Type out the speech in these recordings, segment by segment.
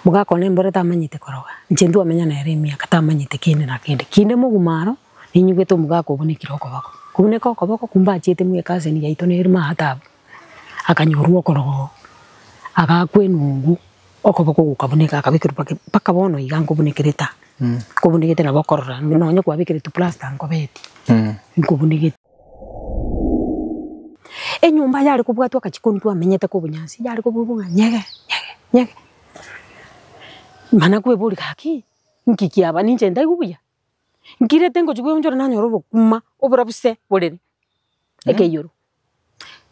Mogakwana embura tamanyete koroga, inche ntwamenya nere emiaka tamanyete kende na kende. Kinde moguma aro, ninyugete omogaka oo buna ekero okoboko. Kobuna ekero okoboko kumbe achiete muna ecousin yaito nere muna aa taabu, akanyorwa okorogo oo, agakwa enungu, okoboko ogoka buna eke akabekerwa mpaka mpaka bono iga nkobuna ekere taa, nkobunigete nabo okorora, nonya kwabekire tu plaster nkobeti, nkobunigeti. Enyomba yare kobwatwa agachia korwa twamenyete korwa obonyansi, yare kobwatwa ng'a nyege, nyege, nyege. Mana kweboria gaki, nki kiaba? Ninche ntaigwe buya? Nkirete ngochia koeonchora nanyora obokima oborabise borere ekeiyo.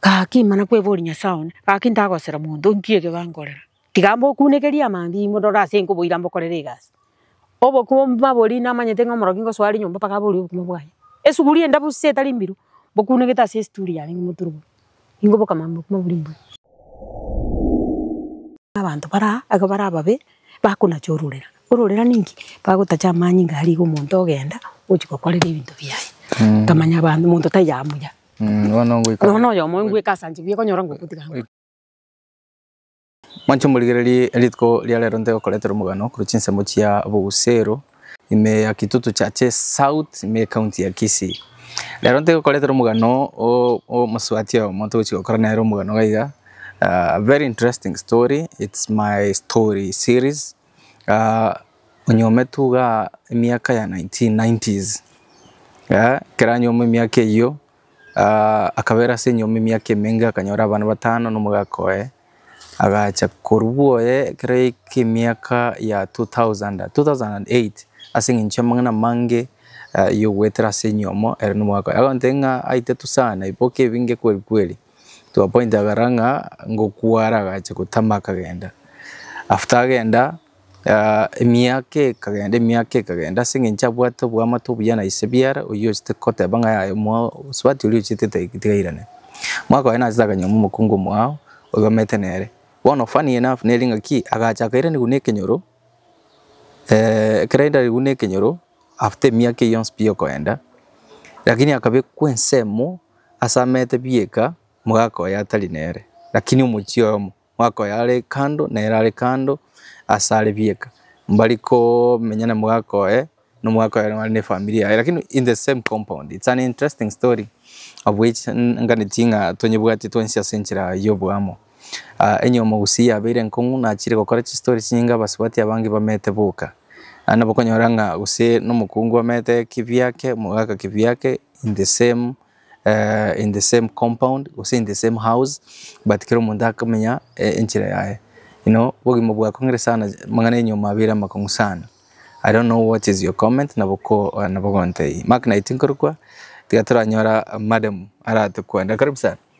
Gaki mana kweboria Nyasae one, gaki ntagosera monto nki eke gankorera? Tiga mbokunekerie amange imwe ndore ase inki oboira mbokorere egasi. Obokima boria namanyete ng'a omorokia ngosoa are nyomba mpaka aborie obokima bwaye. Esuguri enda bosio etari mbiru, mbokunegete ase esituri yane ng'imoturuborie. Ingo bokamame bokima boria mbuya. Abanto baraa iga bare ababe, bakonacha ororera. Ororera ninki? Bagotacha amanyinga aria iga omonto ogenda ogochia gokorera ebinto biaye. Nkamanya abanto omonto tari amuya. Bono oyomo ngweka ase anche buya, okonyora ngokwa tiga amuya. Mwanche morigererie rituko ria rero ntigokoretera omogano korwa chinsemo chia Bogusero ime ya Kitutu Churches South ime County ya Kisii. Rero ntigokoretera omogano omosubati oyomo togochia gokora nere omogano iga iga very interesting story it's my story series onyometu igaa emiaka ya nineteen nineties ekero anyomo emiaka eyio. Akabera ase enyomba emiaka emenge akanyora abana batano na omogaka oye, agacha korwa oye ekero yaika emiaka ya two thousand, two thousand and eight ase eng'encho y'amang'ana amange ya ogoetera ase enyomo ere na omogaka oye, agoteba ng'a aitato sana ebiboke ebi ngekweri kweri, to a point agakora ng'a ngokwara agacha gotama akagenda. After agenda. Emiaka ekagenda emiaka ekagenda ase eng'encho abwate oboamate obuya na ise biara, oyio ochete koteba ng'a yaya omwao osubati oria ochete teg- tigairane. Omwaka oye nachete akanyora omokungu omwao oyio omanyete nere. Bono funny enough nere ng'a ki, agacha akairanigwa na ekenyoro ekero airanigwe na ekenyoro after emiaka eyio yonsi pi okoenda, lakini akabekwa ensemo ase amete bieka omogaka oye atari nere, lakini omochie oyomo. mwaka oyo are kando nere are kando asare bieka mbari komenya na mwaka oye na omwaka oye bare ne efamiri yaye lakini in the same compound it's an interesting story of which nganeti ng'a tonyebwati twensi ase enchera ya oboamo. Onye omogusii yabeire enkong'u nachire gokora chistori chinyinge abasubati abange bamete boka naende nabo okonyora ng'a gose na omokungu amete kibiake mogaka kibiake in the same. in the same compound gose in the same house but kera omonto akamenya enchera yaye you know obogima bwakong'ire sana amang'ana enyiomo abeire amakong'u sana I don't know what is your comment nabo gontebia Mark naye tinkorokwa tiga toranyora madam aratokwenda karibu sana.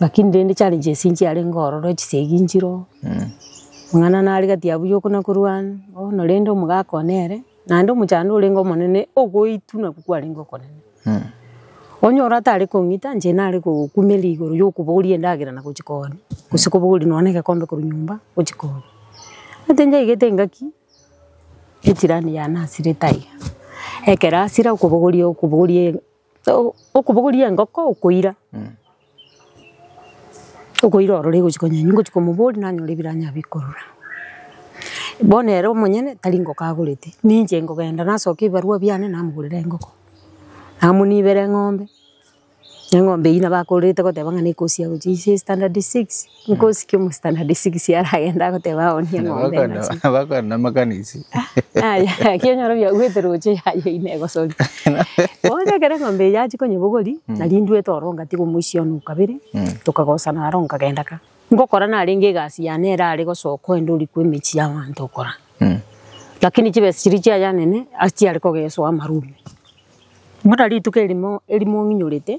Lakini rende challenge ase inche yarenge ororo chisegi nchiroo, mang'ana nare gati yabo yoka na korwana, bono rende omogaka one ere, naende omochando orenge omonene ogoitwa nabwo kwarenge okonene. Onye ore atare kong'ita inche nare kogokumera igoro ya okobogoria endagera na gochia koonia, gose kobogoria nonye na egekombe korwa nyomba gochia koonia. Egento nyaigete engaki, echirani yanasirete aiga, ekero asira okobogoria okobogoria. Okobogoria engoko okoira, okoira orore egochia konya inwe ngochia komoboria nanyora ebiranyare bikorora. Bono ere omonyene tari engoko agorete, ninche nkogenda nasokia ebibarua biane namogorera engoko, namonibera eng'ombe, eng'ombe eywo nabo akorerete goteba ng'a nekosia gochia ase standard six. Nkosi kia omositari na districts aragende agoteba aonie eng'ombe Bakona enase. bakona na makanisi. Aya, naki onyore obiaguete roche yaye ine egosori. Bono ekero eng'ombe eye yachia konyebogori, nari intwe toro ngatiga omoisia one o kabere, tokagosana aro nkagenda ka. Ngokora narenge egasi yane erare gosoka oende oria kwa emechie y'abanto okora. Lakini chibesa chiria chiaye anene, ase chiare kogesoa amarume. Bono rituko erimo, erimo ng'inyorete,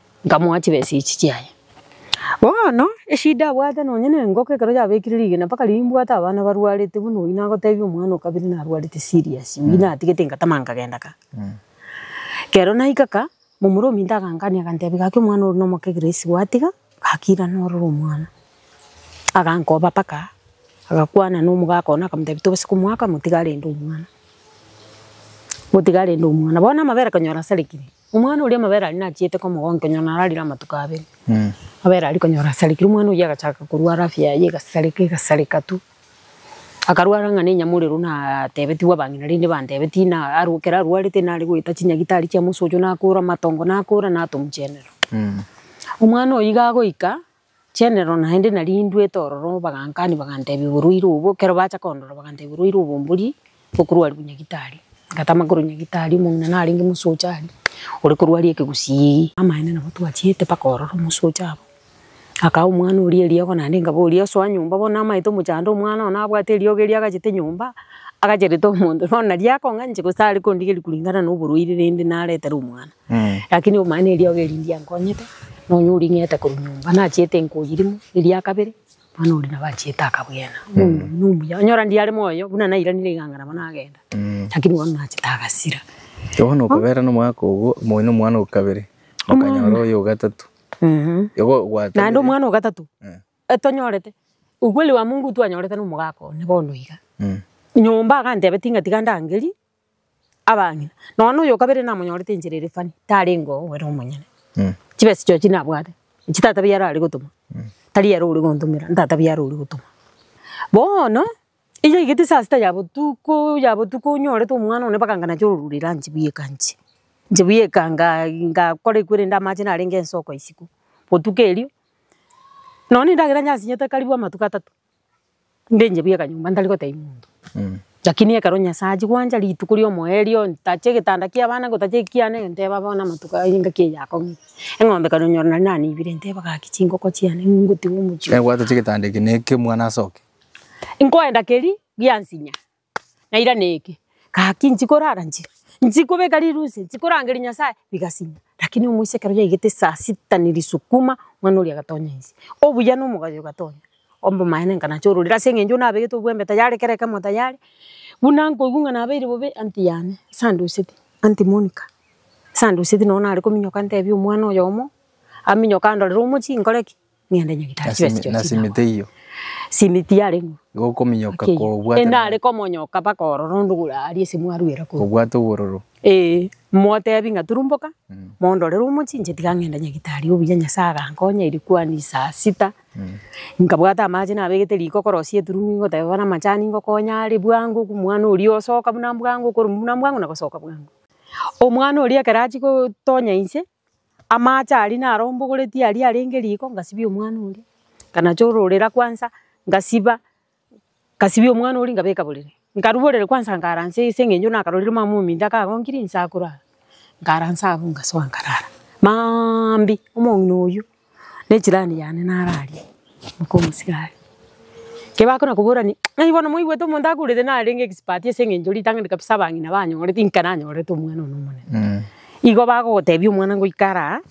Nkamoa chibesa echi chiaye. Bono eshida abwate nonya nengoko ekero yabekire rigena mpaka riria nimbwate abana barwarete buna oyio nagotebia omwana okabere narwarete serious oyio natigete ngatama nkagenda ka. Kero naika ka, momura ominto agangania agantebi gaki omwana ore nomoke Grace gwatiga gaki irana ororo omwana. Agankoba mpaka agakwana nomogaka one akamotebi tobasa komoaka motige arende omwana. Motige arende omwana. Bono amabere konyora asarigire. Omwana oria amabere aria nachiete komogonkonya nararire amatuko abere. Amabere aria konyora asarekire omwana oyio agachaka korwara afya yaye egasareka egasareka tu. Akarwara ng'a nenyamorero natebetigwe abang'ina rende bantebetie na aru ekero arwarete nare goeta chinyagitari chiamosocho nakora amatongo nakora natomuchenera. Omwana oyio iga agoika. Chenero naende narindwete ororo, bagankania bagantebia oborwaire obo, ekero bacha kondora bagantebia oborwaire obo mbori bokorwaria bonyagitari. Ngatama korwa nyagitari, omong'ina narenge mosocha aria, ore korwaria ekegusii. Amaene nabo twachiete mpaka ororo mosocha abo, akaaa omwana oria eriogo naende nkaboria osoa nyomba bono namaete omochando omwana oye nabwate eriogo eria agachete nyomba, agacherete omonto bono nari akong'anche gose tari kondigeria koringana noborwaire rende naretere omwana. Eh. Lakini omanye neriogi eri ndiankonyete, na onya oring'ete korwa nyomba nachiete enkoyi rimo, eria kabere, mwana oria nabo achiete akabwena. Bono oyio nomuya. Onyora ndiare moyo, buna nairanire iganga nabo nagenda. Mm. Lakini bono nachete agasira. Bono okobera nomwaka ogo, moyo na omwana okabere, okanyora oyo ogatato. Mhm. Igo Naende gwatanire. omwana ogatato, Eh. etonyorete, ukweli wa mungu twanyorete nomogaka one bono iga. Mm. Nyomba agantebetia ng'a tiga ndangerie, abang'ina, nonya na oyo kabere namonyorete enchera ere funny, tarenge oo ere omonyene. Chibesa chiao chi nabwate, echi tata biao arare gotoma, tari ere ore gontomera, ntata biao ore gotoma. Bono, eyaigete saa sita ya botuko, ya botuko onyorete omwana one mpaka nganache ororo rire anche buya eka anche. Anche buya eka nga- ngakora ekwerende amache narenge ensoko isiko, botuko erio, nonya na endagera nyansinyete karibu amatuko atato, Ndenche buya akanyomba ntari gotebia monto. Lakini ekero Nyasae achia gwancha rituko ria omoerio, ntache egetanda kia abana, ngotache ekiana, egenteba bono amatuko aya engaki eye yakong'ina. Eng'ombe ekero nyora nari nanebire, nteba gaki chingoko chiane ng'u ngotiga omochie. Ekero gwatochia egetanda eke na ekemwana ase oke. Nkoenda keria giansinya. na irane eke, gaki nchi korara nchi, nchi kobeka rirusia, nchi korangeria Nyasaye, bigasima. Rakini omoiseke oria yaigete saa sita ni risukuma, mwana oria agatonya inse. Obuya na omogayo ogatonya, obomaene nka nacha ororire ase eng'encho nabegete obwembe tayari kera ekemo tayari, buna nkoigwa ng'a nabeire bobe, anti yane, ase andoseti, anti Monica, ase andoseti nonye nare kominyoka ntebi omwana oyomo, aminyoke andorere omochie nkore ki? Ng'ende nyagitari na chibesa simi- chionsi na simiti naboe. eyio Simiti yare ng'o? igo okominyoka Ake eyio. kobwate Enare komonyoka mpaka ororo onde ogure aria ase mwaruera korwa. kobwate obororo Ee, motebi ng'a turumboka, mondorere omochinche tiga ng'ende nyagitari obuya Nyasae agankonya erikwani saa sita, nkabwata amache nabegete riko korosia eturung'u ingoteba bono amachani ngokonya are bwango oko omwana oria osoka buna bwango okorwa buna bwango na gosoka bwango. Omwana oria ekero achia gotonya inse, Amaache aria narombogoretie aria arenge riko ngasibia omwana oria, nkanacha ororera kwansa ngasiba, ngasibia omwana oria ngabeka borere, nkarwa borere kwansa nkaransa ase eng'encho nakarorire mama ominto akagonkirie inse akorara, nkaransa abwo ngasoa nkarara maambia omong'ina oyio. Ne jirani yane naro aria, oka omosika aria. Ekero bakona kobora ng'a ng'ai bono mwaigwete omonto akurete narenge expert ase eng'encho ritang'ani kabisa abang'ina banyorete inka nanyorete omwana one omonene. Igo bagogotebia omwana ngoika ara aa,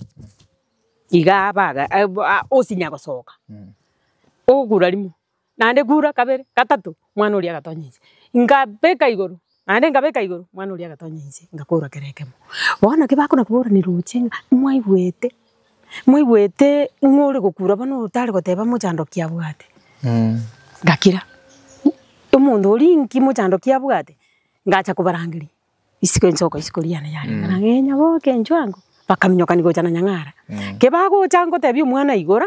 iga aba iga osinya gosoka, ogokura rimo. Naende kura kabere, gatato, mwana oria agatonya inse. Nkabeka igoro, naende nkabeka igoro, mwana oria agatonya inse, ngakora kera ekemo. Bono naki bakona koborani roche ng'a mwaigwete, mwaigwete ng'a ore gokura bono otare goteba mochandoki abwate. Ngakira, omonto oria inki mochandoki abwate? Ngacha kobarangeria isiko enchoko isiko riane yarenge ng'a ng'ee nyaboke inchuango, bakaminyokani gocha na Nyang'ara. Kebagocha ngotebia omwana igora,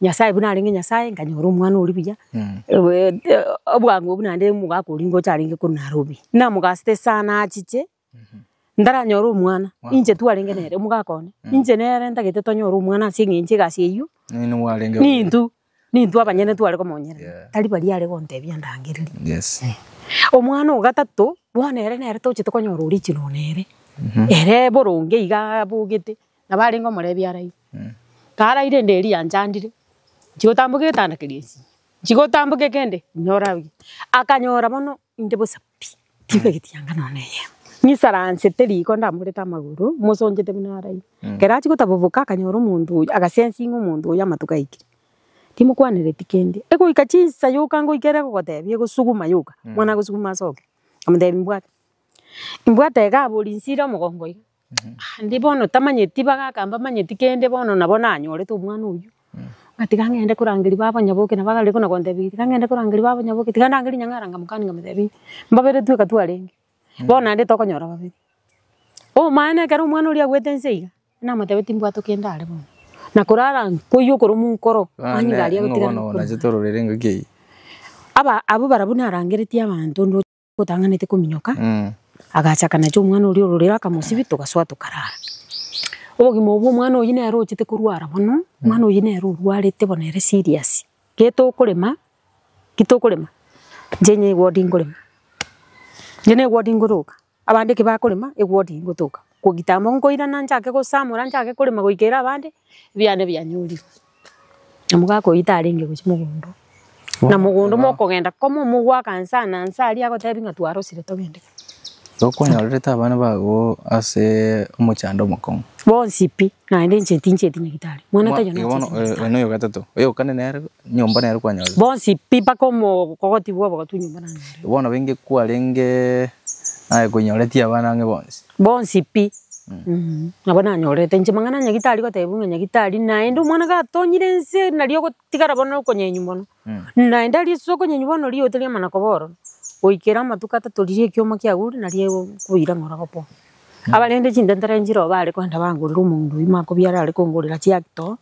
Nyasae buna arenge Nyasae, nkanyora omwana oria buya, obwango obwo naende omogaka oria ngocha arenge korwa Nairobi. Namogasete sana achiche, ntaranyore omwana, ninche twarenge nere, omogaka one, ninche nere ntagete tonyore omwana ase eng'encho egasi eyio, nintwe, nintwe abanyene tware komonyerera, tari baria are gontebia ndangereri. Omwana o gatato, bono ere nere tochete konyora origin nere, ere boronge igaa abogete, Nabo arenge omorebia araire. Karaire ende eria yanchandire, nchigo tamboka egetanda keria esige. Nchigo tamboke kende nyore abuya. Akanyora bono inde bosa pi, tibegeti anga nonya ne eyemo. Nisaransete riko ndamorete amagoro, mosonchete buna araire. Ekero achia gotaboboka akanyora omonto oyio, aga sensing omonto oyio amatuko aikire. Timokwanereti kende. Egoika chinsa yoka ngoika ere egogotebia egosuguma yoka, mwana agosuguma asoke. Amotebi mbwate. Mbwate iga aborinse ire omogongo iga. Naende bono tamanyeti bagaka mbamanyeti kende bono nabo nanyorete omwana oyio, ngatiga ng'ende korangeria baba onyaboke nabo agare buna kontebia tiga ng'ende korangeria baba onyaboke tiga ndangerie nyang'ara nkamokani nkamotebia mbabere tweka twarenge bono naende tokonyora babere. Omana ekero omwana oria agoete nse iga, namotebia timbwate kende are bono, na korara ng'a koiywa korwa monkoro mani iga aria agotigara. Aba abwo barabwo narangeretie abanto. Otang'anete kominyoka, agacha akanacha omwana oria ororere akamosibia togasoa tokarara. Obogima obwo omwana oyio nere ochete korwara mono, omwana oyio nere orwarete bono ere serious. Getokorema, gitokorema inche niga ewodi nkorema, inche niga ewodi nkoroka, abande eki bakorema ewodi ngotoka. Kogita amo nkoirana nchake gosamora nchake korema goikera abande, ebiane bianyorirwe. Namoka akoita arenge gochia mogondo, na mogondo mokogenda komo mogwaka nsa na nsa aria agotebia ng'a twarosire togende. Igo kwanyorete abana bago ase omochando omokong'u. Bonsi pi, naende inche tinchieti nyagetari. Mwana taiyo Igo bono nachieti oyo nyagetari. oyo noyo ogatato, oyokane nere nyomba nere kwanyorire. Bonsi pi mpaka omo kogoti bwabo gotwa nyomba nanyorire. Bono benge kwarenge naye koinyoreti abana ang'e bonsi. Bonsi pi. Nabo nanyorete inche mang'ana a nyagitari gotebia ng'a nyagitari naende omwana gatonyire ense nario ogotigara bono okonyenywa mono. Naende aria ase okonyenywa bono riooto ria amana koba ororo, goikera amatuko atato riria ekioma kiagurure nario ekoira ng'a oragopoa. Abarende chintentera nchire oo bare kwenda bangorere omonto oyio makobi arare kongorera chiactor,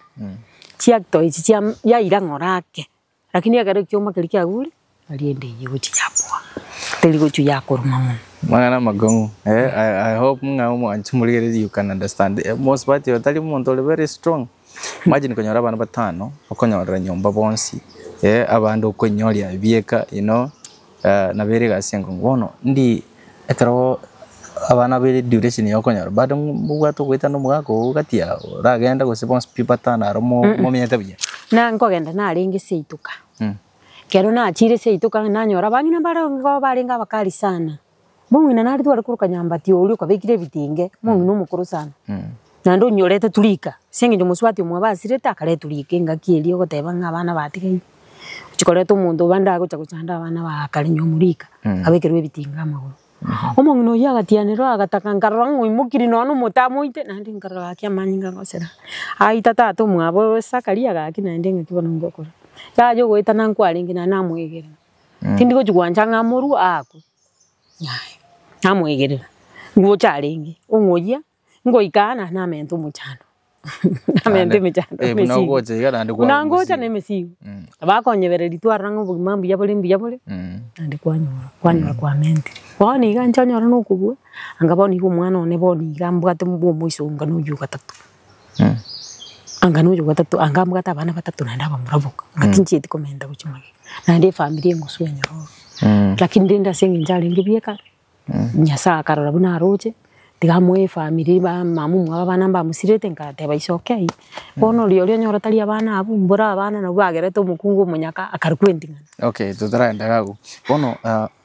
chiactor echi chia yaira ng'a orake. Lakini ekero ekioma keria kiagure, erinde eyio egochia yaboa, teri gochia yakoruma mono. Amang'ana amakong'u eh, I, I hope ng'a omwanche morigererie you can understand eh, most part oyo tari omonto ore very strong, imagine konyora abana batano, okonyorera nyomba bonsi eh, abande okoinyoria ebieka you know. Nabeirige ase engencho bono ndi ekero abana be duration ya okonyora bado mbobwate ogoetana omogaka oo gati yabo oragende gose bonsi pi batana aro mo- Mm-mm. momyete buya. Na nkogenda narenge ase eituka. Ekero nachire ase eituka nanyora abang'ina mbare igo barenge abakari sana. Mong'ina nari tware koroka nyambati oria okabekire ebitenge, mong'ina omokoro sana. Naende onyorete turika, ase eng'encho omosubati omo abasirete akare eturika engaki eria ogoteba ng'a abana batigaire. Ogochia koreta omonto bande agocha gochanda abana ba kare nyomwa rika, abekerwa ebitinga amagoro. Omong'ina oyio agatianera agataka nkarora ng'a oimokiri nonya na omote amoite, naende nkarora gaki amanyinga agosera. Aita tata omwabo oyo Sakaria gaki naende engaki bono ngokora. Yaya ogoetana nkwarenge naende namoegera. Tindi gochia gwancha ng'a amorwe, aakwe. Yaya, namoegerera, ngocha arenge, ong'oyia, ngoika aa na namente omochando, namente emechando na Eh, buna emesigo. ogocha iga naende Buna kwagwa ngocha na omosigo. emesigo, Mm. bakonyebereria twarora ng'a obogima mbuya bore mbuya bore, Mm. naende kwanyora, kwanyora kwamente. Bono iga nchonyore na okobua, anga bono iga omwana one bono iga mbwate bwa omoisongano oywo ogatato. Anga nonya bwatato anga mbwate abana batato naende abamura boka anga tinchieti komenta gochia magega naende efamiri engosu enyororo lakini rende ase eng'encho arenge bweka Nyasaye akarora buna aroche tiga amoe efamiri ba mama omwabo abana mbamosirete ngateba ise oke aye bono oria oria onyora tari abana abwo mbore abana nabwo bagerete omokungu omonyaka akare kwenting'ana. Okay totaragenda iga abwo bono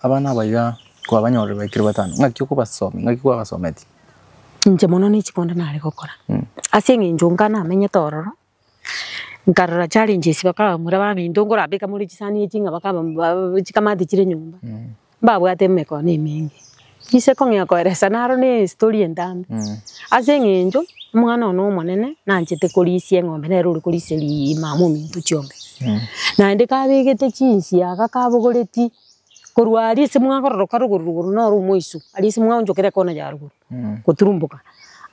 abana aba iga kwabanyorire baikire batano ng'aki okobasomia ng'aki kwabasometie? Inche mono ne chikonda nare gokora, ase eng'encho onga namenyete ororo, nkarora challenges bakaba bakamura baminto nkorabeka more chisani echi ng'a bakaba ba chikamati chire nyomba, mbabwate emegkone emenge. Inche kong'ea koeresa naro na estory entambe, ase eng'encho omwana one omonene nanchete korisia eng'ombe nere ore korisia riiima mominto chionsi, naende kabegete chinsiaga kabogoretie. Korwa aria ase mwakororoka rogoro rogoro noro omoiso, aria ase mwaonchokire ekona ya rogoro goturumboka,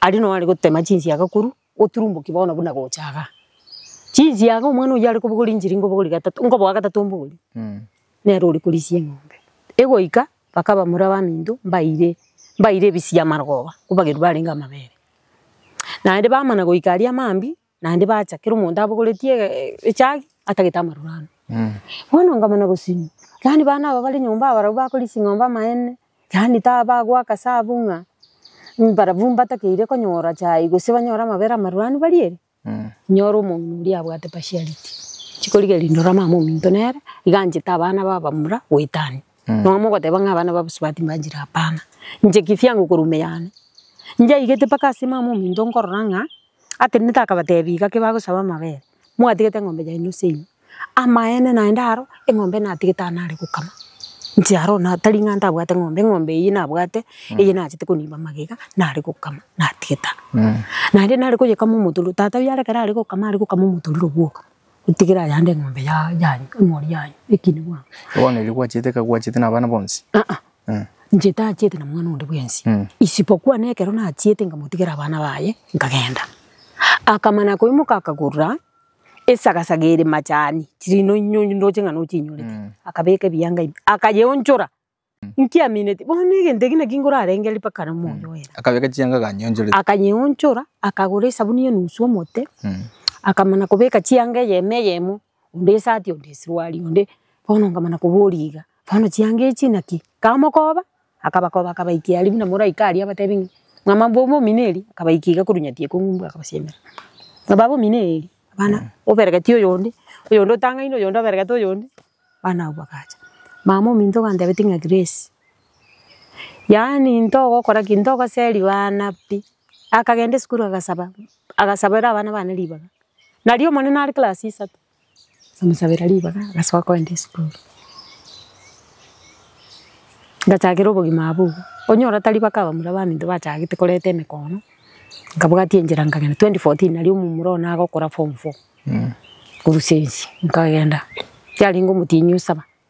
aria noo are gotema chinsiaga korwa oturumboki bono buna gocha igaa. Chinsiaga omwana oyio are kobogoria nchiri nkobogoria gatato, nkoboa gatato mbogoria, nere ore korisia eng'ombe. Egoika baka abamura baminto mbaire, mbaire ebisiamarogoba, nkobageru barenge amabere. Naende bamana goika aria mambia. naende bacha kera omonto abogoreti ege echagi atagete amaroro ane. Bono nkamana gosimwa, yaani bana aba bare nyomba abarabwo bakori ching'ombe amaene, yaani ta bagoaka sabu ng'a mbarabwo mbatakeire konyora chai gose banyore amabere amaroro ane barie ere, nyore omong'ina oria abwate partiality, chikorigereria ndore omama ominto nere iga anchete abana ba abamura goetania. Nonya mogoteba ng'a abana ba abasubati mbanchire hapana, inche kifyango korwa ime yane, njaigete mpaka ase mama ominto nkorora ng'a atenenete akabatebi gaki bagosaba amabere, mwatigete eng'ombe yaino ase ime, amaene naende aro eng'ombe natigete aro nare gokama, inche aro na tari ng'a ntabwate eng'ombe, eng'ombe eywo nabwate eye nachete konimba magega nare gokama natigete aro. Naende nare koyekama omotororo, tata oyio ekero are gokama are gokama omotororo bwoka, otigere ayande eng'ombe ya- yanyu, emori yanyu, ekina bwango. Bono erio gwachiete ekagwa chiete na abana bonsi? Inche tachiete na mwana onde bwensi, isibokwa nekero nachiete nkamotigera abana baye, nkagenda. Akamana koimoka akagurura esagasaga ere machani, chiri noinyo ndoche ng'a nochinyorete, akabeka ebianga ime, akayeonchora, nkiamineti, bono egento eke naki nkorarengereria mpaka na omoyo oye. Akabeka chianga akanyeonchoreti. Akanyeonchora, akagora esabuni ya enusu omote, akamana kobeka chianga eyemo eyemo onde esati onde esuruari onde bono nkamana koboria iga, bono chianga echio naki? Nkamokoba akabakoba akabaikera aria buna moraika aria abatebi ng'a mama mbwe omomino eria akabaika iga korwa nyati ekong'u mbwe akabasiemera. Ng'a baba omino eeri abana oberegeti oyonde, oyonde otang'aine oyonde oberegete oyonde, abana abwo bagacha. Mama ominto gantebeti ng'a Grace, yaani ntogokora ki? Ntogoseri bana pi. Akagenda esukuru agasaba, agasabera abana bane ribaga. Nario omonene are class isato, akamosabera ribaga agasoka kogenda esukuru. Ngachakera obogima abwo iga, onyora tari bake abamura abanto bachagete koreta emekono, nkabwatia enchera nkagenda, twenty fourteen nario omomura one agokora form four, korwa sense nkagenda, yarenge omotienyi osaba.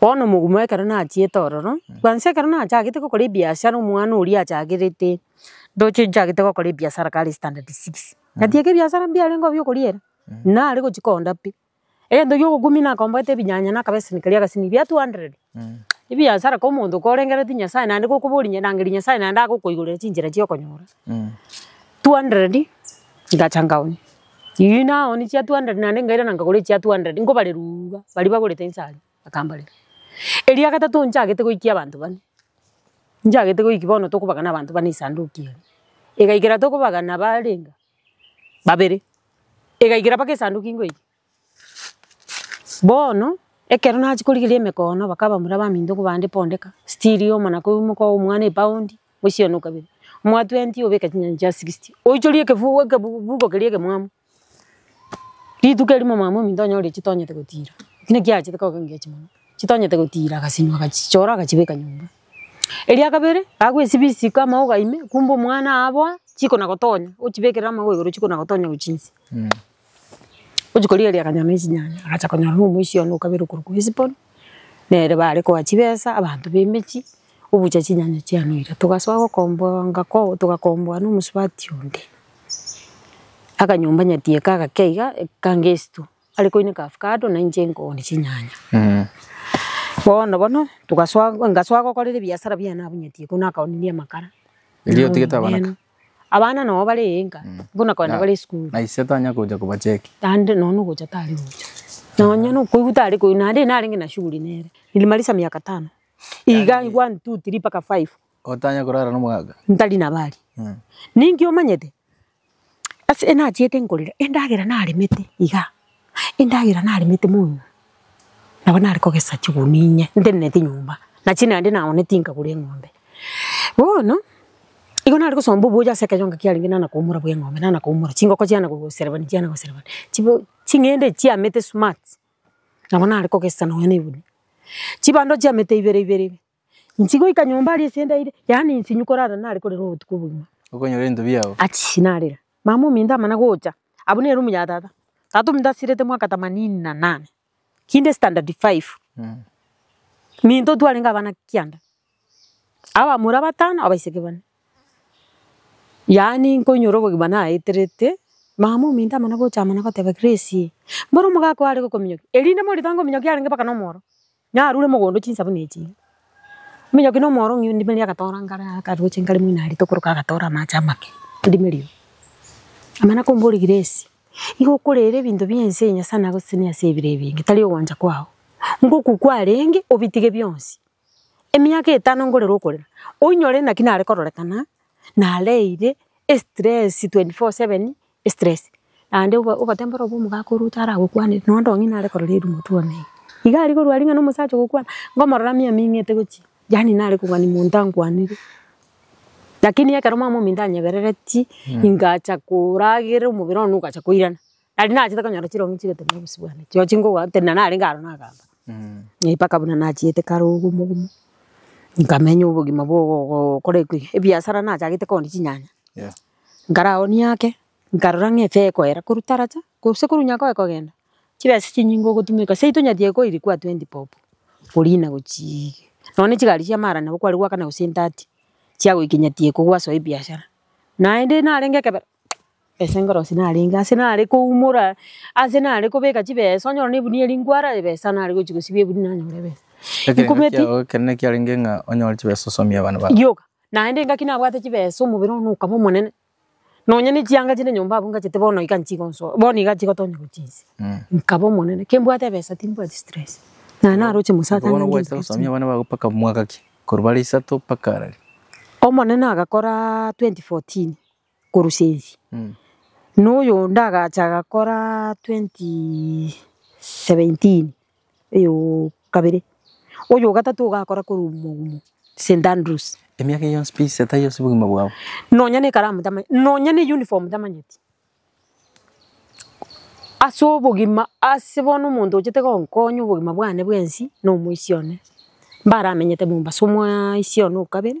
Bono omoguma ekero nachiete ororo, kwansa ekero nachagete gokora ebiashara omwana oria achagerete, ndoche nchagete gokora ebiashara kare standard six. Gati eke ebiashara mbiarengeo bia okoriera, nare gochia koonda pi. Egento kia ogokumia nakomborete ebinyanya na akabeseni karia agasini bia two hundred. Ebiashara ka omonto korengereretie Nyasaye naende gokoboria inye rangeria Nyasaye naende agokoigorera chinchera chia okonyora. Two hundred ngacha ngaumia. Eeh naoni chia two hundred naende nkairana nkagora echia two hundred nkobareruuga baria bagorete inse aria, bakambarera. Eria gatato nchagete goikia abanto bane, nchagete goiki bono tokobagana abanto bane esanduki eye, egaikera tokobagana barenga babere, egaikera mpaka esanduki nkoikia. Bono, ekero nachia korigereria emekoono bakaba mbuna baminto nkobande pondeka, still yoma na kobua moka omwana epaundi, moisionwa kabere, omoa twenty obeke chinyanya chia sixty, oichoria ekefugo ekebugubugo keria ekemwamu, rituko erimo mama ominto onyore chitonyete gotira, ki naki achete koba engage mono, chitonyete gotira agasinwa agachichora agachibeka nyomba. Eria kabere, agwo esibisi ase kama ogaime, kumbe omwana aa aboa, chikona gotonya, ochibekere amagogo igoro chikona gotonya gochia inse. Gochia korigereria akanyora ne chinyanya, agacha konyora na omoisia one okabera okorwa kwa esipori, nere bare koa chibesa, abanto ba emechie, obucha chinyanya chia noira. Togasoa gokomboa ngako togakomboa na omosubati onde, akanyomba nyati eka agakea iga, eka ngesitwe, are koineka avocado na inche nkooni chinyanya. Bono bono, togasoa ngasoa gokorera ebiasara biane abwo nyati eka, buna akaonirie amakara. Erio otigete abanto? Abana nabo bare enka, buna kogenda bare esukuru. Na ise tanya gocha kobacheki. Naende nonya na ogocha tari gocha. Nonya na okoigwa tari koigwa. Naende narenge na shughuli nere. Nilimaliza miaka tano. Iga one, two, three mpaka five. Otanya korara nomogaka? Ntari nabari. Ninki omanyete? Ase nachiete nkorera, endagera naremete igaa. Endagera naremete mono, nabo nare kogesa chigunia inye nteneneti nyomba, na chinde naende naoneti nkagura eng'ombe. Bono, igo nare gosomba obuya ase ekeyonga kiarenge nana koumora bwa eng'ombe, nana koumora, chingoko chiana goserebani chiana goserebani, chibo ching'ende echi chiamete smart, nabo nare kogesa nonya na egunia, chibando chiamete ibere ibere ibe. Inche goika nyomba aria ase ndaire, yaani inche inwe korara nare korere obotuko bogima. Okonyora ebinto biao. Achii narera, mama ominto amana gocha, abwo ne room ya tata, tata ominto asirete mwaka themanini na nane, kinde standard five, minto twarenge abana kianda, abamura batano, abaiseke bane. Yaani nkoinyora obogima naeterete, mama ominto amana gocha amana goteba Grace, mboro omogaka oo are gokominyokia, erinde morito angominyokie arenge mpaka na omoro, Narure mogondo chinsabuni echi, omonyoki na omorong'ina ondimerie agatora ngare akaroche ngare moino arite okoroka agatore amache amake ondimerie oo. Amana komboria Grace, igo okorera ebinto bie ense eye Nyasae nagosesenirie ase ebiro ebinge tari ogwancha kwao, ngoku kwarenge obitige bionsi. Emiaka etano nkorere okorera, oinyore naki nare kororekana nareire estress twenty four seven Stress naende ogotemba ore obe omogaka ore otaragokwanere nonya onde ong'ina are korora erumo tu one iga. Iga aria korwa aria ng'a na omosacha ogokwana ngomorora mia ming'ete gochia yaani nare kobua ni monto ankwanire. Lakini ekero mama ominto anyebereretie ingacha koragerera omobere one ogacha koirana. Nari nachete konyora chirong'i chigotenena obosio bwane chio chingotenena narenge aro nagamba. Mpaka buna nachiete kare ogomo ogomo nkamenya obogima bwa ogo ogo okora ebiasara nachagete kondi chinyanya. Nkara agwo niake, nkarora ng'a efe ekoera korwa taracha, gose korwa nyakao ekogenda, chibesa chinyinge ogotumeka, seito nyatiga ekoiri kwa twenty bob, oria nagochii nonya ne chigari chia maarani nabo kware goakana gose entati, chia goika nyatiga ekogwa asoa ebiashara. Naende narenge ekebero, ase enkorosi narenge ase nare koumora, ase nare kobeka chibesa, onyore na egunia eria nkwara ebesa nare gochi gosibia egunia nanyora ebesa. Ekero ekero ekiarenge ng'a onyore chibesa osomie abana bago. Rioka, Naende engaki nabwate chibesa omobere one okaba omonene, nonya ne chianga chinde nyomba abwo ngachete bono iga nchigonsoa, bono iga nchigotonya gochia inse. Nkaba omonene, kembwate ebesa timbwati stress. Naye naroche mose Bono atanyange gwachire ebinto gosomia abana bago mpaka mwaka ki? Korwa bare isato mpaka arari. Omonene agakora 2014, korusia ense. Na oyonde agacha agakora twenty seventeen oyo kabere, oyo ogatato nigo ogakora korwa omogumo St Andrews. Emiaka eye yonsi pi ise tari ase obogima bwao? Nonya ne ekaramu tamanyeti, nonya ne uniform tamanyeti. Ase obogima ase bono omonto ochete gonkonya obogima bwane bwensi na omoisia one, mbaramenyete Mombasa omoisia one o kabere.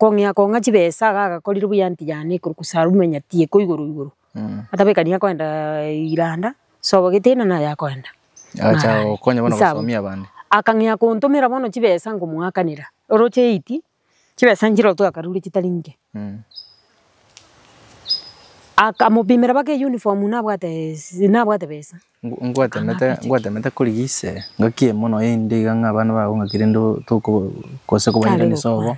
Kong'ea kong'a chibesa iga agakorire buya anti yane ekero gose arume nyati iko igoro igoro. Atabekani akoenda iranda, sobo getenena naye akoenda. Agacha Naye. gokonya bono Nsa abwo. gosomia abande. Akang'ea kontomera bono chibesa ngomoakanera. Oroche eiti, chibesa nchirotwe akarure chitari inche. Akamopimera mpaka eyuniform nabwate esi- nabwate besa. Ngwatemete, ngwatemete korigia ise ngaki emo nonya inde iga ng'a abana bago ng'aki rende tokoba gose kobairaneria obo,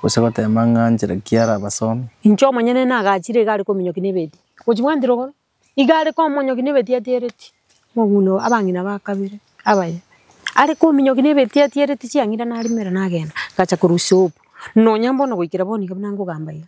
gose gotema ng'a nchera ki arabasome. Inche omonyene nagachire iga are kominyokia na ebeti. Gochi bwanchire igoro? Iga are komonyokia na ebeti atiereti omogunda oo, abang'ina ba kabere abaye. Are kominyokia na ebeti atiereti chiang'ira narimera nagenda, ngacha korwa soap. Nonya mbono goikera bono iga buna nkogamba iga.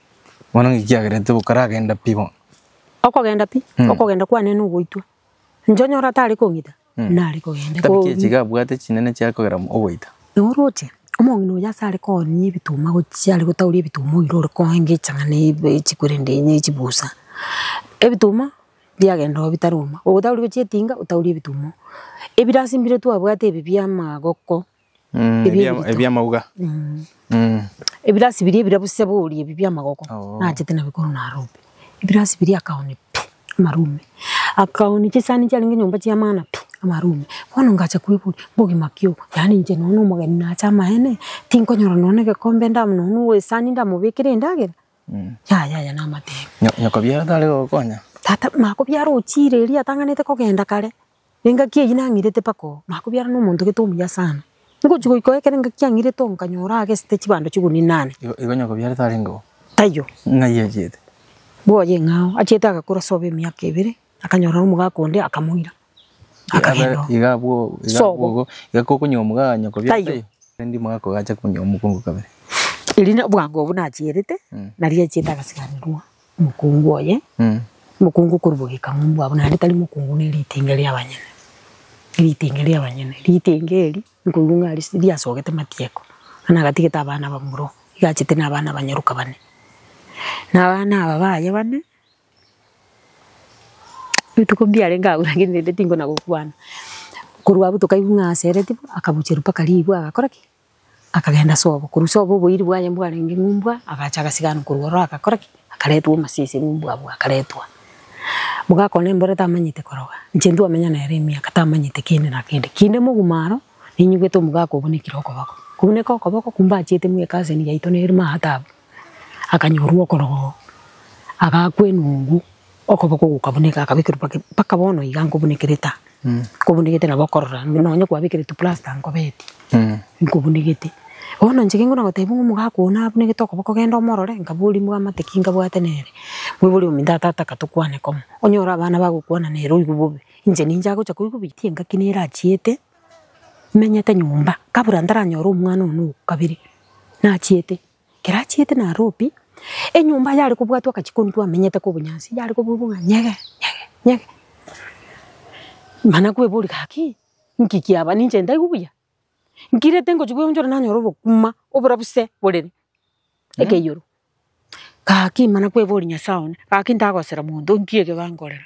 Bono ng'iki kiagerete tokaragenda pi bono? Okogenda pi? Mm. Okogenda kwane nogoitwa. Inche onyore atare kong'ita, Mm. nare kogenda. Tabia Ko- chiachiga abwate chinene chiare kogera mo- ogoita. Oroche, omong'ina oyo ase are koonia ebituma gochia are gotauria ebituma oira ore koenga echang'ani ya ebe- echikwerende ya echibusa. Ebituma biagenda oo bitaroma. Ogotauria gochia etinga, otaurie ebituma oo. Ebirasi mbire twabwate ebi bia amagoko, Mm, Ebio ebia- ebito. ebiamauga Mm. ebirasi biria ebirabu sebori ebi biamagoko Oo. nachete nabikoro narombe ebirasi biria akaoni pi amarume akaoni chisani chiarenge nyomba chiamana pi amarume bono ngacha kweboria bogima ki obo yaani inche nonya omogeni nache amaene tinkonyora nonya egekombe nda nonya owe esani ndamobekere endagera Mm. yaya aya namatebe Nyo- nyokobiara tare gokonya tata makobiara ochire eria atang'anete kogenda kare Engaki eyio nang'irete mpaka oo, nakobiarana nomonto gete omuya sana. Ngochia goika oo ekero engaki yang'irete oo nkanyora agesete chibando chigunia inane. Igo onye okobiarete arenge oo. Taiyo. Ng'ai achiete? Bwoye ing'aa oo. Achiete agakora sobo emiaka ebere, akanyorana nomogaka onde akamoira. Akagenda oo. Iga abwo oo. Iga abwo oo. Sobo. Iga kokonywa omogaka onye okobiarete. Taiyo. Rende omogaka oyo ache konywa omokungu kabere. Erio bwango obwo nachierete, nario achiete agasigarirwa. Mokungu oye, mokungu korwa bogekang'u bwabo, naende tari mokungu ne ritenge ri'abanyene, ritenge ri'abanyene, ritenge eri nkoigwa ng'a ris riasogete matieko, na nagatigete abana bamura, iga achete na abana abanyaroka bane. Na abana aba baye bane, rituko mbiarenge agwo lakini rende tinkona gokwana, korwa abwo tokaigwa ng'a asereti bo, akabucherwa mpaka rigwa agakora ki? Akagenda sobo, korwa sobo oboiri bwaye mbwarenge ng'umbwa, agacha agasiganwa korwa ororo agakora ki? Akaretwa omasisi ng'umbwa abwo akaretwa. Boka akona embura tamanyete koroga, inche ntwamenya nere emiaka tamanyete kende na kende. Kinde moguma aro, ninyigwete omogaka obunekire okoboko, kobuneka okoboko kumbachiete mweka aseni yaito nerimo aa taabu. akanyorwa okorogoa, agaakwa enungu, okoboko gokabuneka akabekerwa pake mpaka bono iga nkobunekerete aa, nkobunekete nabo okorora ime nonye kwabekeretwe plasta nkobeti, nkobunekete. Bono inche ekero nkona gotebia ng'a omogaka oyo nabunekete okoboko genda omorore, nkaboria mwamate ki nkabwate nere, moiboria ominto aa tata katokwane komo, onyore abana bagokwana nere oigwe bobe, inche ninche agocha koigwa ebitii engaki nere achiete, menyete nyomba, kabra ntaranyore omwana one o kabere, nachiete. Kerachiete na Robi, enyomba yare kobwatwa agachia kontwa amenyete ka obonyansi, yare kobwatwa ng'a nyege, nyege, nyege. Mana kweboria gaki, nki kiaba? Ninche ntaigwe buya? Nkirete ngochia koeonchora nanyora obokima oborabise borere ekeioro. Gaki mana kweboria Nyasae one, gaki ntagosera monto, nki eke gankorera?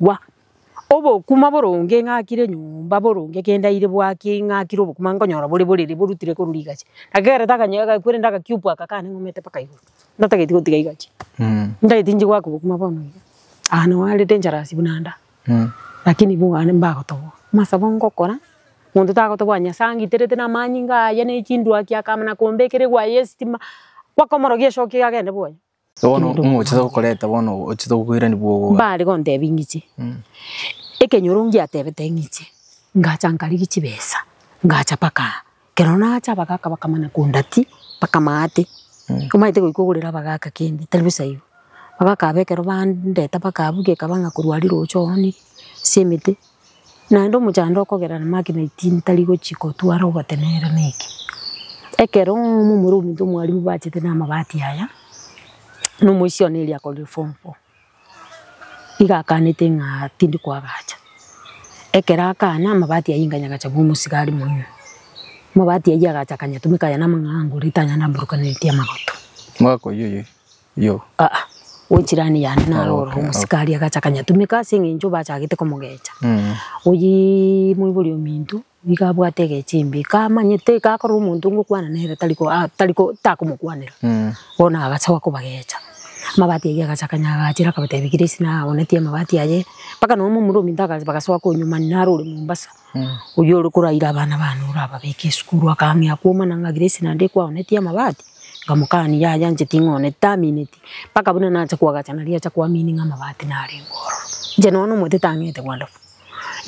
Gwa, obokima boronge ng'akire enyomba boronge kende aire bwaki ng'akire obokima nkonyora bore borere borutire korwa rigachi. Ekero takanyora agakweri nda agakiupu aka kane ng'omete mpaka igoro, ndatageti gotiga igachi. Ntageti nchi goaka obokima bono iga, aa noo arete encharaasi buna nda, lakini ibu aa mbagotoboa. Masa bo ngokora, monto tagotoboa Nyasae angiterete na amaanyinga aya ne chindwaki akamana kombekera egwaye y'estima, bakomorogia shoki agende bwoye. Bono Ekenyoro ng'o ochete gokoreta bono ochete gokoirania bwogoga? Mbare gontebia ng'iche, ekenyoro ngiatebete ng'iche, ngacha nkarigia chibesa, ngacha mpaka aa. Ekero nacha abagaka bakamana kondatia mpaka maate, omanyete goika ogorere abagaka kende, tari bosa igo. Abagaka aba ekero bandeta mpaka abwo gekaba ng'a korwa riroche oonire ase emete. Naende omochando okogera namake na etini tari gochia kotwara ogotenenera neke. Ekero momura ominto mwarimu bachete na amabati aya, na omoisioni eria akorire form four, nigo akanete ng'a tindi koagacha. Ekero akana, amabati ayio inga nyagacha komosiga are mono. Amabati ayio agacha akanyatumeka aye namang'ana ngore tanyara mburukaneretie amagoto. Mwaka oyio oyoki? Yo. Aa, gochirani yane naro oro Okay, omosike aria agacha akanyatumeka ase eng'encho bachagete komogecha. Mm. Oyii moibori ominto, nigo abwate egecho imbe, kamanyete gakorora omonto ngokwana nere tari ko a tari ko takomokwanera, Mm. bono agacha goa kobagecha. Amabati ayio agacha akanyagachera akabatebia Grace naye agonetie amabati aye, mpaka nonya momura ominto aka bagasoa konywa mani naro ore Mombasa. Oyio ore koraire abana baane orababeke esukuru, akang'ea kwoma na ng'agire ase naende ekwaonetie amabati, nkamokania yaya inche ting'ooneti tamineti, mpaka buna nacha koagacha nario acha koamini ng'a amabati narengeo ororo. Inche nonya na omote tang'eete kwanda bwo,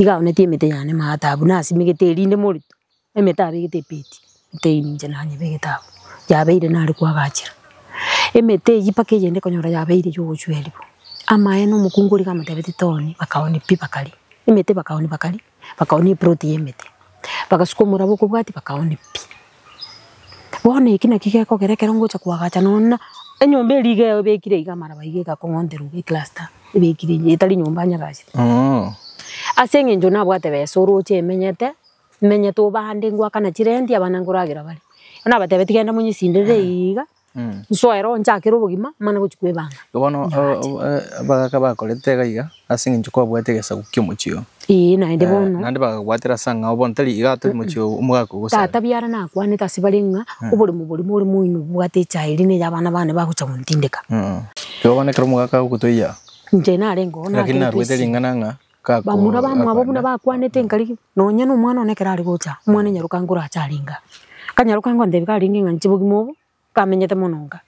iga aonetie emete yane maate abwo, nasimegete erinde morito, emete abegete epeti. Tei ninche nanyeba egetabu, yabeire nare koagachera. Emete eyio mpaka eyende ekonyora yabeire y'ogochwerwa bo. Amaene omokungu oria gamotebetie toni, bakaoni pi bakaria. Emete bakaoni bakaria, bakaoni eproti y'emete, bagasuka omoraba okobwatia bakaoni pi. Bono eki naki gekogera ekero ngocha koagacha nonye enyomba eria iga ebekire iga amaraba iga egakong'onterwa iga ecluster ebekire iga etari nyomba nyagache. Ase eng'encho nabwate besa oroche emenyete, Timenyete obande ngoakana chirenti abana nkoragera bare. Bono nabatebia tigenda monyesinderere eyio iga, nsoe roho nchakere obogima mane gochia kwebanga. Bono abagaka bakorete iga iga ase eng'encho kwabwate egesaku ki'omochie oo. Ee, naende bono. Naende bakagwatera ase ang'ao bono tari iga tari mochie oo omogaka ogosareka. Tata biara nakwanete ase bare ng'a oboremo borimo ore moino obwate echae eria ne ey'abana bane bagocha gontindeka. Igo bono ekero omogaka agotoiya. Inche narenge oo. Lakini narwete ring'ana ng'a. Bamura bamwabo buna bakwanete nkarigwe, nonya nomwana one ekero are gocha, omwana nyaroka nka orache arenge aa. Kanyaroka nka ntebi ka arenge ng'a inche bogima obo, kamenyete mono nka.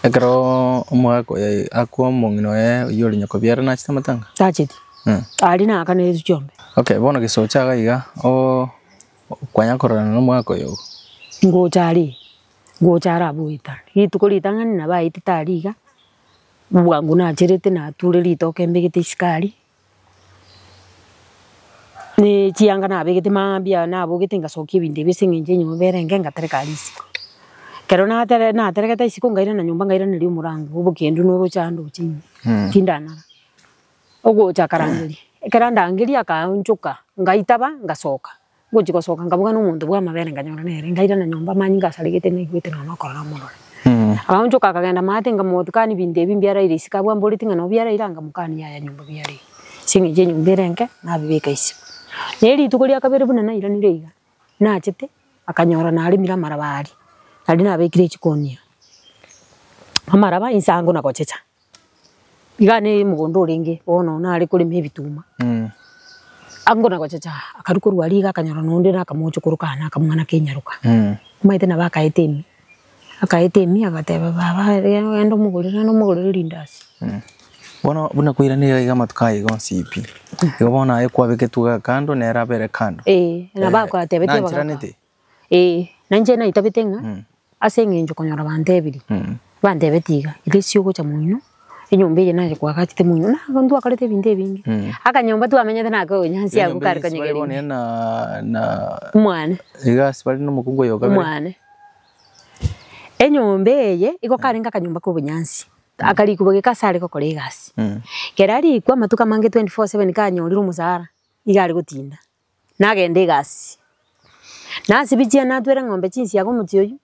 Ekero omogaka oye akwa omong'ina oye oywo ore nyakobiare nachete amatanga? Tacheti. Aria nagakaneiretwe chiombe. Okay, bono gese ocha iga iga, oo kwanya kororana na omogaka oyo iga. Ngocha aria, ngocha are abwo goetania. Rituko ritang'ani nabo aetete aria iga. bwango nacherete nature ritoke mbegete esukari, na echianga nabegete mambia nabogete ngasokia ebinto ebio ase eng'encho enyomba erenge ngatereka risiko. Ekero natere naterekete risiko ngairana nyomba ngairaneria omorango obokendu noroche ande oche ime, tindanara. Ogocha akarangeria, ekero andangeria akaonchoka ngaitaba ngasoka. Ngochia gosoka nkabuga nomonto bw'amabere nkanyora nere, nkairana nyomba amanyia ngasaregete naigwete nonya okorora omorore. Akaonchoka akagenda maate nkamotukania ebinto ebi mbiaraire isiko abwo amboreti ng'a nabio biaraire nkamokania yaya nyomba biaraire ase eng'encho enyomba ere enke nabibeka isiko. Naye rituko ria kabere buna nairanire iga, nachete akanyora naremire amaraba aria, naria nabekire chikonia, amaraba inse ango na gochicha. Iga ne omogondo orenge bono nare korema ebituma, ango na gochacha akarwa korwa aria iga akanyora na onde nakamocha okorokana na akamwana ka enyaroka. Omanyete nabo akaeta ime, akaeta ime agateba baba aria ogende omogorere naende omogorere rindasi. Bono buna kwairanirie iga iga amatuko aye iga onsi pi, igo bono aye kwabegetwe iga kando nere abere kando. Eeh, nabo akoa tebeti abagaaka. Nanchiraneti? Ee, na inche naitabete ng'a Mm. ase eng'encho konyora bantebirie, Mm. bantebetie iga, resi ogocha moino, enyomba eye naye kwagachete moino, na bono twakorete ebinto ebinge. Mm. Akanyomba twamenyete nako obonyansi abwo Enyomba kare eye ase bare konyegeri. bonene na- na Omwane, iga ase bare nomokungu oyoka bire. omwane. Enyomba eye, igo karenge akanyomba ka obonyansi, akarikwa geka ase are gokora egasi. Mm. Kera arikwa, amatuko amange 24/7 kanyorire omosara, iga are gotinda. Nagende egasi, nasibie chiana natwere ng'ombe chinsiaga omochie oyio,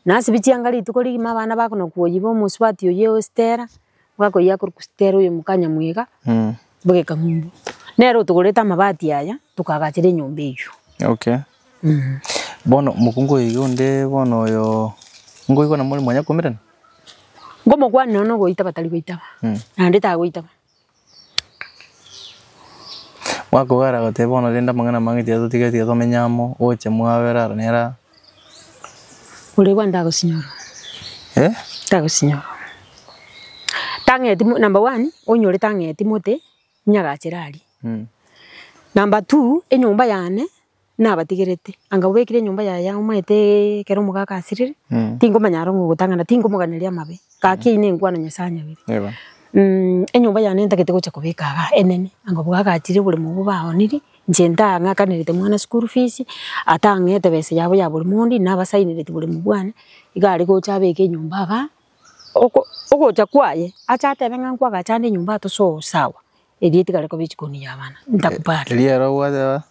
nasibie chianga rituko rigima abana bakona koyi ba omosubati oyio o Stella, bwakoyia akorwa ku Stella oyo moka Nyamwega, bogeka ng'umbu. Nere otogorete amabati aya, tokaagachera enyomba eyio. Okay. Bono mokungu oyo iga onde bono oyo ngoigwa namo ore mwanyakomerana? Ngomokwanera nogoitaba tari goitaba, naende tagoitaba. Gwakogera goteba bono rende amang'ana amange tiga totige tiga tomenye amo, oche mwabera aro nere aa. Ore kwani tagosinyorwa? Eh? Tagosinyorwa. Tang'eti mo- number one, onyore tang'eti mote, nyagachere aria. Number two, enyomba yane. nabatigerete, anga obekire enyomba yaye amo omanyete ekero omogaka asirire, tingomanya aro ng'a ogotang'ana, tinkomoganeria amabe, gaki eyio nengwa na Nyasae anyabire. Enyomba yane ntagete gocha kobeka igaa enene, anga obogaka achire oboremo obwo baonirie, inche ntang'akanerete mwana school fees, atang'ete besa yabo ya bori mondi, nabasainereti boremu bwane, iga are gocha abeke enyomba igaa, oko ogocha kwaye, ache atebe ng'a nkwagacha ande enyomba atososawa, eria etigare koba ejikoni ya abana, ntakubali. Erio ere ogoteba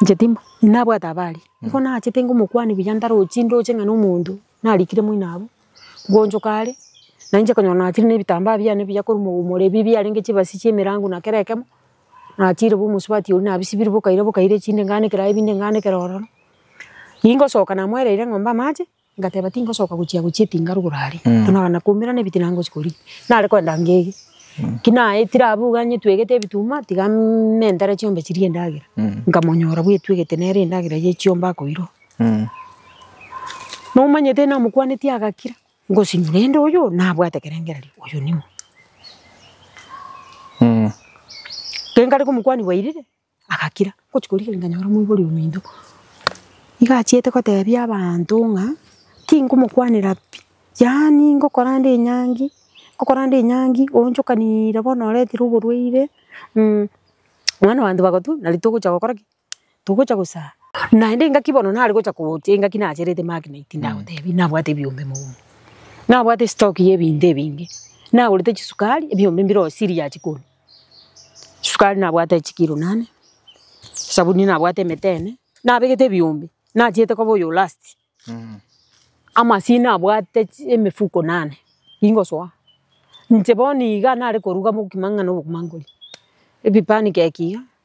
Inche timba, inabwate abare, nigo nachete ngomokwania buya ndaroche ndoche ng'a na omonto narikire moino abwo, ngoonchoka are, na inche okonyora nachire na ebitambaa biane buya korwa mogogoro ebi biarenge chibasi chia emerango na kera ekemo, nachiire bo omosubati oria nabisibirie bokaire bokaire chinde ngaanekeraa ebinde ngaanekeraa ororo. Ningosoka namoereire ng'ombe amache. Ngateba, Tingosoka gochia gochia etinga rugoro aria, buna abana koumera nebitina ngochi koria. Nare koenda ngege. Ki naetire abwo iga nyetwegete ebituma, tiga nentere chiombe chirie endagera. Nkamonyora bwetwegete nere endagera ye chiombe akoirwa. Nomanyete namokwanetie agakira, ngosinywa rende oyo nabwate ekerengererio, oyo ning'o? Ekero nkare komokwania bwairire. Agakira gochia korigereria nkanyora omoibori ominto, nigo achiete kotebia abanto ng'a tingomokwanera pi, yaani ngokora nde enyangi, ngokora nde enyangi oonchokanire bono oretire oborwaire mwana o banto bagotwe nari togocha gokora ki? Togocha gosara. Naende engaki bono nare gocha gocha engaki nacherete magnet ndagotebie nabwate ebiombe mogondo, nabwate estock ya ebinto ebinge, nagorete chisukari ebiombe mbire oo siri ya chikoni. Sukari nabwate chikiro nane, esabuni nabwate emete ene, nabegete ebiombe, nachiete koba oyo last. Amasini nabwate chi- emefuko nane, ningosoa. Inche bono iga nare koruga mokimo ang'e na obokima nkoria, ebipani keki iga,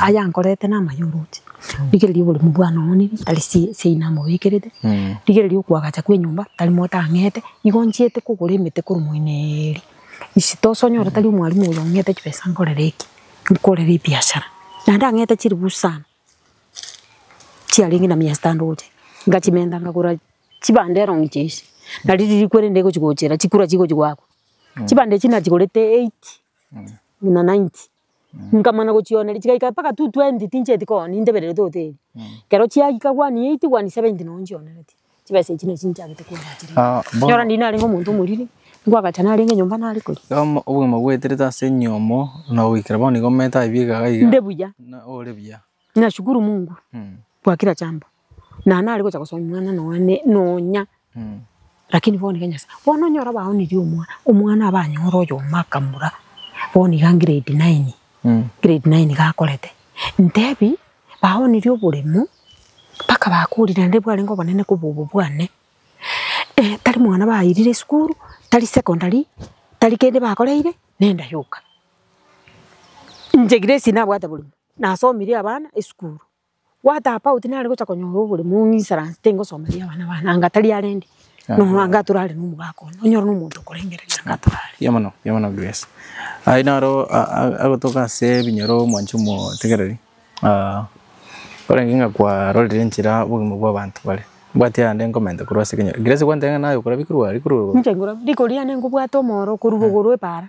Aya nkorete namaye oroche, rigereria oboremu bwane oonire, tari seyi namobekerete, rigereria okoagacha kw'enyomba, tari mote ang'ete, igo nchiete kogora emete korwa moineeri, isi tosonyore tari omwalimu oyo ong'ete chibesa nkorere eki, nkorere ebiashara. Naende ang'ete chiribusu sana, chiarenge na mia sita ndoche, ngachimenta nkagora chibande erogi chia ise, nari riria rikwere rinde gochi gochera, chikura chigochi goakwa, chibande echi nachigorete eighty, buna ninety. Nkamana gochioneria chigaika mpaka tu twenty tinchieti kogora nintebereri to hoteli. Ekero chiagika one eighty, one seventy nabo nchioneretie, chibesa echio nachi nchiagete koebacheria. Ah, bono- Erio rende narenge omonto omoriri, ngwagacha narenge nyomba nare koria. Bono obogima bwaeterete ase enyomo, na goikera bono igo omanyete aye bieka iga iga. Nde buya. Ore buya. Nashukuru Mungu kwa kila jambo na nare gocha gosomia omwana nonya ne nonya lakini bono iga Nyasaye bono onyore abaonirie omwa omwana abe anyore oyomo akamura bono iga grade nine grade nine iga akorete ntebi baonirie oboremo mpaka bakorire naende bwarenge obonene koba obo bwane tari mwana bairire esukuru tari secondary tari kende bakoreire nenda yoka inche Grace nabwate borimo. nasomirie abana esukuru. Gwatapa oti nare gocha konyora oboremu ng'isransi tingosomeria abana bane anga tari arende nonya anga atorare na omogaka one, onyore na omonto okorengereria anga atorare. Mbuya mono, mbuya mono Grace. Aye naro agotoka ase ebinyoro omwanchi omotegereri, korenge ng'a kwarorire enchera obogima bwa abanto bare. Mbwate ande nkomenta korwa ase ekenyoro. Grace kwantebia ng'a naye okorabia rikuru aa rikuru. Inche nkorabia riko riane nkobwate omoro okorwa igoro epaara.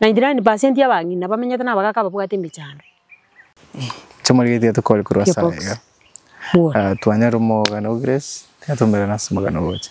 99% ya abang'ina bamenyete na abagaaka ababwate emechando. Chiamorigetie tokore korwa ase Gearbox. aiga. Bworo. Ah, twanyare omogano o Grace, tiga tomerane ase omogano ogocha.